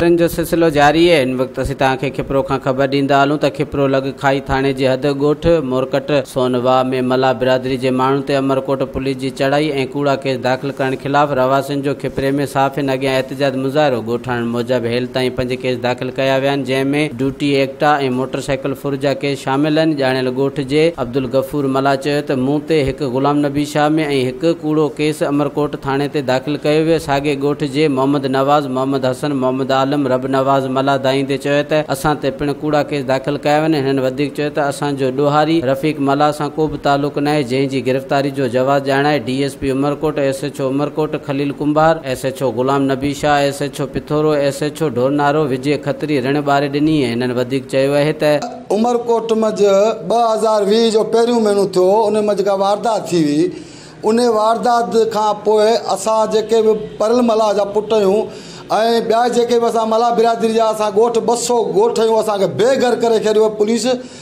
خبرن جو سلسلو جاري آهي ان وقت اسين توهان کي کپرو کان خبر ڏيندا هلون ته کپرو لڳ کائي ٿاڻي جي حد ڳوٺ مورڪٽ سون واهه ۾ ملاح برادري جي ماڻهن تي عمرڪوٽ پوليس جي چڙهائي ۽ ڪوڙا ڪيس داخل ڪرڻ خلاف رهواسين جو کپري ۾ صحافين اڳيان احتجاج مظاهرو ڳوٺاڻن موجب هيل تائين پنج ڪيس داخل ڪيا ويا آهن جنهن ۾ ڊوٽي ايڪٽا ۽ موٽر سائيڪل ڦر جا ڪيس شامل آهن ڄاڻايل ڳوٺ جي عبدالغفور ملاح چيو ته مون تي هڪ غلام نبي شاهه ۾ ۽ هڪ ڪوڙو ڪيس امرڪوٽ ٿاڻي تي داخل ڪيو ويو ساڳئي ڳوٺ جي محمد نواز محمد حسن محمد عالم رب نواز ملاح دانهيندي چيو ته اسان تي پڻ ڪوڙا ڪيس داخل ڪيا ويا آهن هنن وڌيڪ چيو ته اسان جو ڏوهاري رفيق ملاح سان ڪو به تعلق ناهي جنهن جي گرفتاري جو جواز ڄاڻائي D S P Umerkot S S H O Umerkot Khalil Kumbhar, S H O Ghulam Nabi Shah, S H O Pithoro, S H O Dhoronaro وجي کتري رڻ ٻاري ڏني ۽ هنن وڌيڪ چيو اهي ته. عمرڪوٽ منجهه ٻه هزار ويهه جو پهريون مهينو ٿيو ان منجهه ڪا واردات ٿي هئي انهي واردات کان پوء اسان جيڪي به پرل ملاح جا پٽ اهيون ۽ ٻيا جيڪي به اسان ملاح برادري جا اسان ڳوٺ ٻه سؤ ڳوٺ اهيون اسان کي بي گهر ڪري ڇڏيو پوليس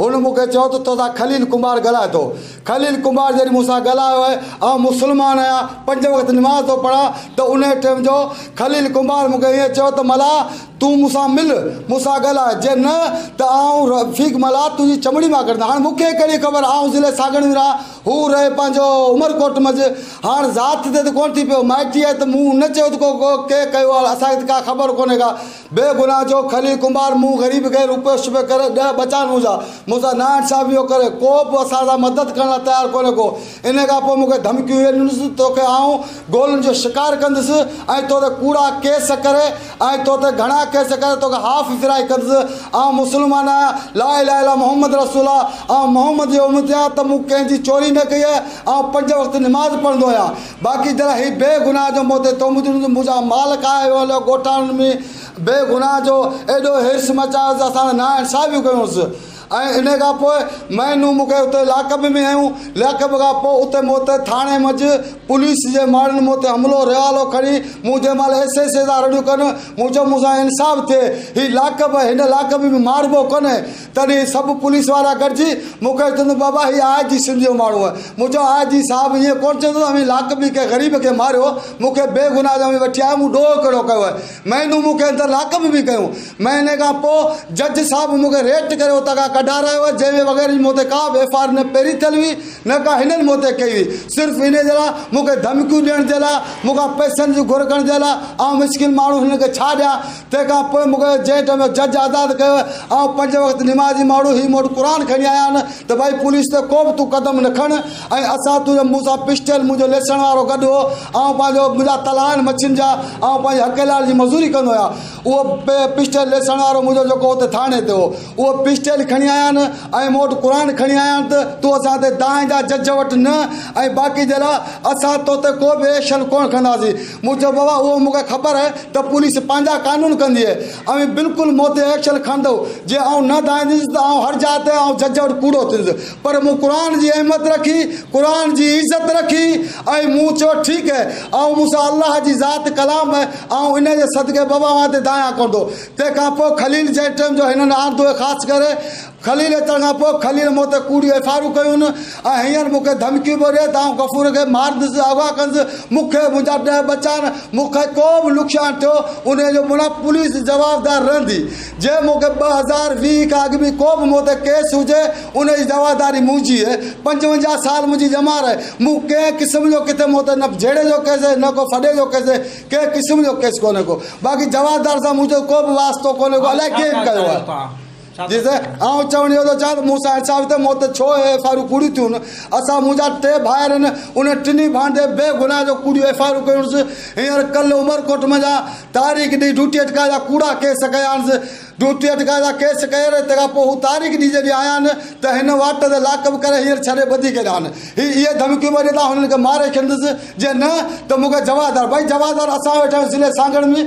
هن مون کي چيو ته تو سان خليل ڪنڀار ڳالهائي ٿو. خليل ڪنڀار جڏهن مون سان ڳالهايو آهي، آئون مسلمان آهيان، پنج وقت نماز ٿو پڙهان ته انهيء ٽيم جو خليل ڪنڀار مون کي ائين چيو ته ملاح تون مون سان مل، مون سان ڳالهاء، جي نه ته آئون رفيق ملاح تنهنجي چمڙي مان ڪڍندس. هاڻ مون کي ڪهڙي خبر آئون ضلعي ساگڻ ۾ رهان، هو رهي پنهنجو عمرڪوٽ منجهه. هاڻ ذات تي ته ڪونه ٿي پيو، مائٽيء ته مون نه چيو ته ڪو ڪنهن ڪيو آهي، اسان کي ته ڪا خبر ڪونهي ڪا. بي گناھ جو کلي ڪنڀار مون غريب کي روپيو شبي ڪري ڏهه بچان منهنجا منهنسان نا انصافي ٿو ڪري ڪو به اسان سان مدد ڪرڻ لا تيار ڪونهي ڪو انهي کان پوء مون کي ڌمڪيون هي ڏنس توکي آئون گولن جو شڪار ڪندس ۽ تو تي ڪوڙا ڪيس ڪري ۽ تو تي گهڻا ڪيس ڪري توکي هاف ڦرائي ڪندس آئون مسلمان آهيان لا اله الا محمد رسول الله آئون محمد جو امتي آهيان ته مون ڪنهن جي چوري نه ڪئي آهي آئون پنج وقت نماز پڙهندو آهيان باقي جرا هي بي گناهه جو موتي تومتون جو مون سان مال کائي ويو هليو ڳوٺاڻن ۾ بي گناهه جو ايڏو حرص مچايو ته اسان سان نا انصافيون ڪيونس ۽ انهي کان پوء مهينو مون کي اتي لاڪ اپ ۾ هنيون لاڪ اپ کان پوء اتي مون تي ٿاڻي منجهه پوليس جي ماڻهن مون تي حملو ريوالو کڻي مون جنهن مهل ايس ايس سان رڙيون ڪن مون چيو مون سان انصاف ٿئي هي لاڪ اپ هن لاڪ اپ ۾ ماربو ڪونهي تڏهن سڀ پوليس وارا گڏجي مون کي چيو ته بابا هي آء جي سنڌ جو ماڻهو آهي. مون چيو آء جي صاحب ائين ڪونه چئي سگهندو اوهين لاکن ۾ ڪنهن غريب کي ماريو مون کي بي گناهه جو اوهين وٺي آيا آهيو مون ڏوهه ڪهڙو ڪيو آهي. مهينو مون کي اندر لاڪ ۾ به ڪيو. مهيني کان پوء جج صاحب مون کي ريٽ ڪري اتان کان ڪڍارايو آهي جنهن وغيره جي مون تي ڪا به ايف آء آر نه پهرين ٿيل هئي نه ڪا هنن مون تي ڪئي هئي صرف انهي جي لاء مون کي ڌمڪيون ڏيڻ جي لاء مون کان پئسن جي گهر ڪرڻ جي لاء آئون مسڪين ماڻهو هنن کي ڇا ڏيان. تنهن کان پوء مون کي جنهن ٽائيم جو جج آزاد ڪيو آهي آئون پنج وقت نماز جي ماڻهو هي مون وٽ قرآن کڻي آيا آهن ته ڀائي پوليس تي ڪو به تون قدم نه کڻ ۽ اسان تنهنجو مون سان پسٽل منهنجو ليسڻ وارو گڏ هو آئون پنهنجو منهنجا تلها آهن مڇين جا آئون پنهنجي حقيلال جي مزوري ڪندو آهيان اهو پسٽل ليسڻ وارو منهنجو جيڪو اتي ٿاڻي تي هو اهو پسٽل کڻي آيا آهن ۽ مون وٽ قرآن کڻي آيا آهن ته تون اسان تي دانهن جا جج وٽ نه ۽ باقي جي لاء اسان تو تي ڪو به ايڪشن ڪونه کندا سين مون چيو بابا اهو مون کي خبر آهي ته پوليس پنهنجا قانون ڪندي آهي اوهين بلڪل مون تي ايڪشن کڻندؤ جي آئون نه ڌائينديس ته آئون هر جاء تي آئون جج وٽ ڪوڙو ٿيندس پر مون قرآن جي اهميت رکي قرآن جي عزت رکي ۽ مون چيو ٺيڪ آهي آئون مون سان الله جي ذات ڪلام آهي آئون ان جي صدقي بابا اوهان تي ڌايان ڪوندو تنهن کان پوء خليل جنهن ٽيم جو هنن آندو هي خاص ڪري خليل اچڻ کان پوء خليل مون تي ڪوڙيون ايف آء آرون ڪيون ۽ هينئر مون کي ڌمڪيون پيو ڏي ته آئون غفور کي مارندس، اغوا ڪندس، مون کي منهنجا ڏهه ٻچا آهن، مون کي ڪو به نقصان ٿيو انهيء جو مون لاء پوليس جوابدار رهندي، جي مون کي ٻه هزار ويهه کان اڳ ۾ ڪو به مون تي ڪيس هجي ان جي جوابداري منهنجي اهي پنجونجاهه سال منهنجي ڄمار آهي، مون ڪنهن قسم جو ڪٿي مون تي نه جهيڙي جو ڪيس ۽ نه ڪو ڦڏي جو ڪيس ڪنهن قسم جو ڪيس ڪونهي ڪو باقي جوابدار سان منهنجو ڪو به واسطو ڪونهي ڪو الائي ڪنهن ڪيو آهي. جيسين آئون چوڻ اهو ٿو چاهيان ته مون سان انصاف ٿئي، موت ڇو اهي ايف آء آرون ڪوڙيون ٿيون، اسان منهنجا ٽي ڀائر هن انهن ٽنهي ڀائن تي بي گناهه جو ڪوڙيون ايف آء آرون ڪيونس، هينئر ڪل عمرڪوٽ منجهان تاريخ ڏئي ڊيوٽي اٽڪائي جا ڪوڙا ڪيس ڪيانس، ڊيوٽي اٽڪائي جا ڪيس ڪير تنهن کان پوء هو تاريخ ڏئي جڏهن آيا آهن ته هن واٽ تي لاڪ اپ ڪري هينئر ڇڏي ٻڌي ڪيڏا آهن، هي اهي ڌمڪيون به ڏين ته آئون هنن کي ماري کيندس جي نه ته مون کي جوابدار ڀئي جوابدار اسان ويٺا آهيون ضلعي سانگهڙ ۾.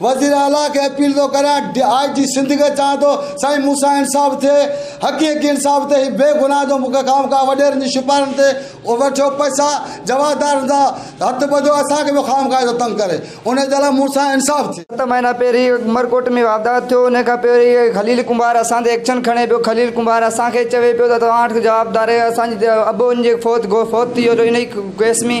وزير اعليٰ کي اپيل ٿو ڪريان ڊي آء جي سنڌ کي چوان ٿو سائين مون سان انصاف ٿئي حقي حقي انصاف ٿئي هي بي گناهه جو مون کي خامخواه وڏيرن جي شپارن تي وٺيو پئسا جوابدارن جا هٿ ٻڌو اسان کي پيو خامخواه اهڙو تنگ ڪري انهي جي لاء مون سان انصاف ٿئي. ست مهينا پهرين عمرڪوٽ ۾ واردات ٿيو انهي کان پهرين خليل ڪنڀار اسان تي ايڪشن کڻي پيو خليل ڪنڀار اسان کي چوي پيو ته توهان جوابدار آهيو اسان جي ابو ان جي فوت ٿي ويو جو انهي ڪيس ۾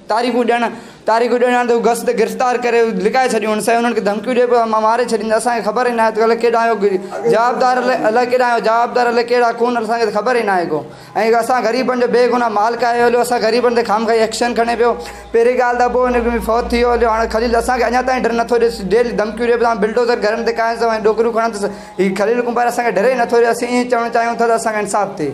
تاريخون ڏيڻ تاريخون ڏيڻ آڻ ته هو گس تي گرفتار ڪري لڪائي ڇڏيونس ۽ انهن کي ڌمڪيون ڏئي پيو مان ماري ڇڏيندس اسان کي خبر ئي ناهي ته الائي ڪيڏانهن جو جوابدار الائي ڪيڏانهن جو جوابدار الائي ڪهڙا خون اسان کي ته خبر ئي ناهي ڪو ۽ اسان غريبن جو بيگناهه مال کائي هليو اسان غريبن تي خام خائي ايڪشن کڻي پيو پهرين ڳالهه ته ابو هن به فوت ٿي ويو هليو هاڻي خليل اسان کي اڃا تائين ڊر نٿو ڏئي ڊيلي ڌمڪيون ڏئي پيو ته آئون بلڊوزر گهرن تي ڪاهيندس ۽ ڏوڪريون کڻندس هي خليل ڪنڀار اسان کي ڊر ئي نٿو ڏئي اسين ائين چوڻ چاهيون ٿا ته اسان کي انصاف ٿئي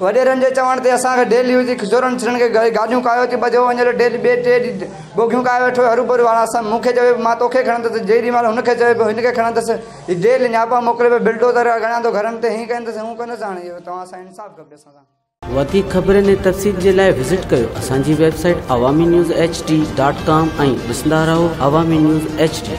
وڏيرن جي چوڻ تي اسان کي ڊيلي جي کجورن ڇڻڻ کي گاڏيون ڪاهيو ٿي ٻڌيو وڃي ٿو ڊيلي ٻئي ٽئي ڏينهن بوگيون ڪاهي ويٺو هي هروڀرو هاڻ اسان مون کي چوي پيو مان توکي کڻندس جيڏي مهل هن کي چوي پيو هن کي کڻندس هي ڊيلي نياپا موڪلي پيو بلڊوزر اڻيان ٿو گهرن تي هي ڪندس هو ڪندس هاڻ اهو توهان اسان کي انصاف کپي اسان سان وڌيڪ خبرن ۽ تفصيل جي لاء وزٽ ڪيو اسان جي website Awami news H D dot com ۽ ڏسندا رهو عوامي نيوز ايڇ ڊي.